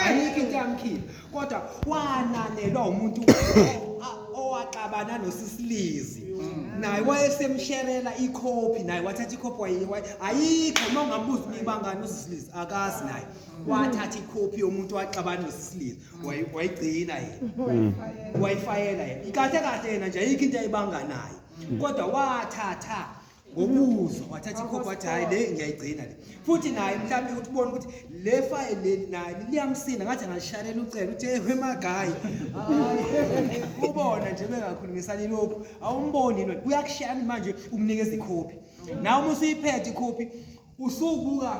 ayikho into yamkhipha kodwa wananelwa umuntu owaxabana nosisilizi naye wayesemsherela ikhophi naye wathatha ikhophi wayiwayi ayikho uma ungambuza uma ibangani usisilizi akazi naye wathatha ikhophi yomuntu waxabana nosisilizi wayigcina yena mm. wayifayela yena kahle kahle yena nje ayikho into ayibanga naye kodwa wathatha ngokuzwa wathatha ikhophi wathi hhayi le ngiyayigcina le futhi naye mhlawumbe ukuthi ubone ukuthi le fayile leli naye liyamsina ngathi angalishayela ucela uthi ehwe magayi ubona nje bengakhulumisani lokhu awumboni yini uyakushayani manje umnikeza ikhophi nawe uma usuyiphethe ikhophi usubuka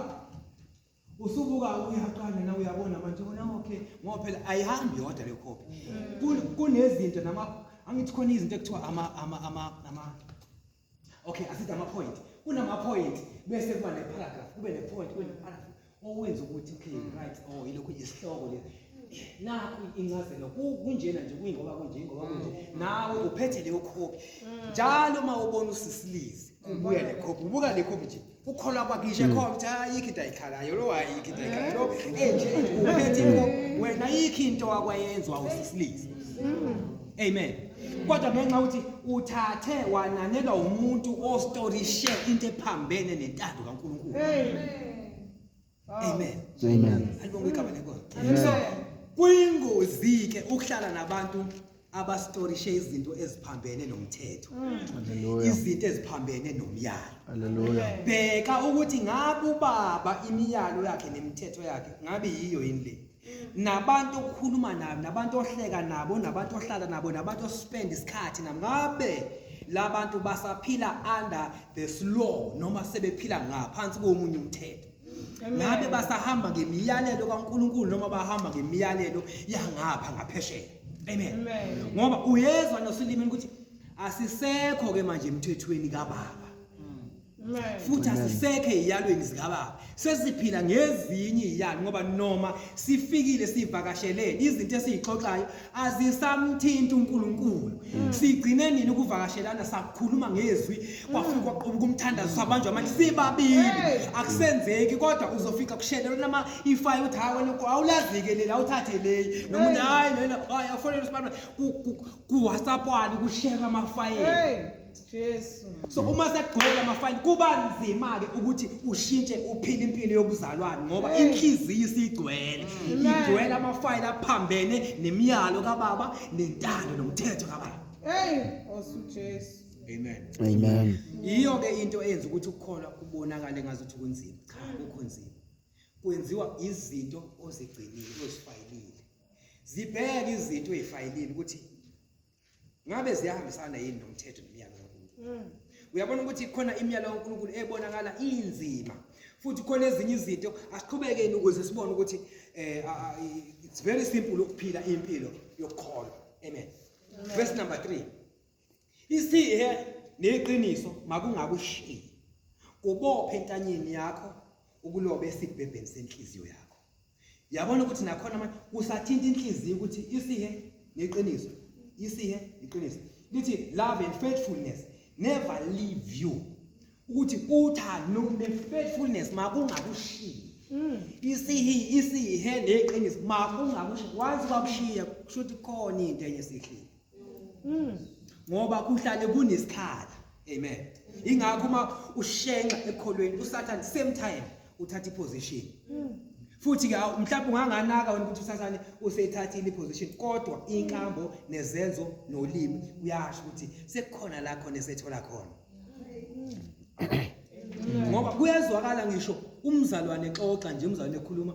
usubuka uyaqala na uyabona manje bona okay ngoba phela ayihambi yodwa le copy mm. kunezinto nama angithi khona izinto ekuthiwa ama ama ama ama okay asithi ama point kunama point bese kuba ne paragraph kube ne point kube ne paragraph owenza ukuthi okay mm. right oh ilokhu isihloko le nakho incazelo kunjena nje kuyingoba kunje ngoba kunje mm. nawe uphethe leyo copy njalo uma ubona usisilizi kubuya le copy ubuka le copy nje ukholwa kwakhe ishe khona ukuthi ayikho into ayikhalayo lo ayikho into ayikhalayo lo enje uphethe into wena ayikho into wakwayenzwa usisilisa amen kodwa ngenxa ukuthi uthathe wananelwa umuntu ostorishe into ephambene nentando kaNkulunkulu Amen. Amen. Alibonge igama lenkosi. So kuyingozi ke ukuhlala nabantu abastorishe izinto eziphambene nomthetho mm. izinto eziphambene nomyalo haleluya bheka ukuthi ngabe ubaba imiyalo yakhe nemithetho yakhe ngabe yiyo yini le nabantu okhuluma nabo nabantu ohleka nabo nabantu ohlala nabo nabantu ospend isikhathi nabo ngabe labantu basaphila under the law noma sebephila ngaphansi komunye umthetho ngabe basahamba ngemiyalelo kaNkuluNkulu noma bahamba ngemiyalelo yangapha ngaphesheya amen ngoba uyezwa nosulimini ukuthi asisekho ke manje emthethweni kababa futhi asisekho eyalweni zikababa sesiphila ngezinye iyalo ngoba noma sifikile sivakashelele izinto esizixoxayo azisamthinti uNkulunkulu mm. sigcine nini ukuvakashelana sakhuluma ngezwi mm. kwafika kwaqhuba kumthandazo sabanjwa manje sibabili akusenzeki kodwa uzofika kushelelwa nama ifayo uthi hayi wena awulazike lela uthathe leyi nomuntu hayi lena hayi afonele sibana ku WhatsApp wani kushare amafayela Jesu. So uma sekugcwele amafayini kuba nzima ke ukuthi ushintshe uphile impilo yobuzalwane ngoba Hey. inhliziyo isigcwele. Amen. Igcwele amafayini aphambene nemiyalo kababa nentando nomthetho kababa. Hey, osu Jesu. Amen. Amen. Yiyo ke into eyenza ukuthi ukukholwa kubonakale ngazuthi kunzima. Cha, akukho nzima. Kwenziwa izinto ozigcinile ozifayilile. Zibheke izinto ezifayilile ukuthi ngabe ziyahambisana yini nomthetho nemiyalo kaNkulunkulu mm. uyabona ukuthi khona imiyalo kaNkulunkulu ebonakala inzima futhi khona ezinye izinto asiqhubekeni ukuze sibone ukuthi eh it's very simple ukuphila impilo yokukholwa amen verse number 3 isihe neqiniso makungakushiyi kubophe entanyeni yakho ukulobe esibhebheni senhliziyo yakho yabona ukuthi nakhona manje kusathinta inhliziyo ukuthi isihe neqiniso isihe iqiniso lithi love and faithfulness never leave you ukuthi uthando ne-faithfulness makungakushiyi mm. isihi isihe neqiniso makungakushiyi once kwakushiya kusho ukuthi khona into enye esihlile ngoba kuhlale kunesikhala amen ingakho uma ushenxa ekholweni usathane same time uthatha iposition futhi ke mhlawumbe unganganaka wena ukuthi usathane useyithathile iposition kodwa inkambo nezenzo nolimi uyasho ukuthi sekukhona la khona esethola khona ngoba kuyezwakala ngisho umzalwane xoxa nje umzalwane ekhuluma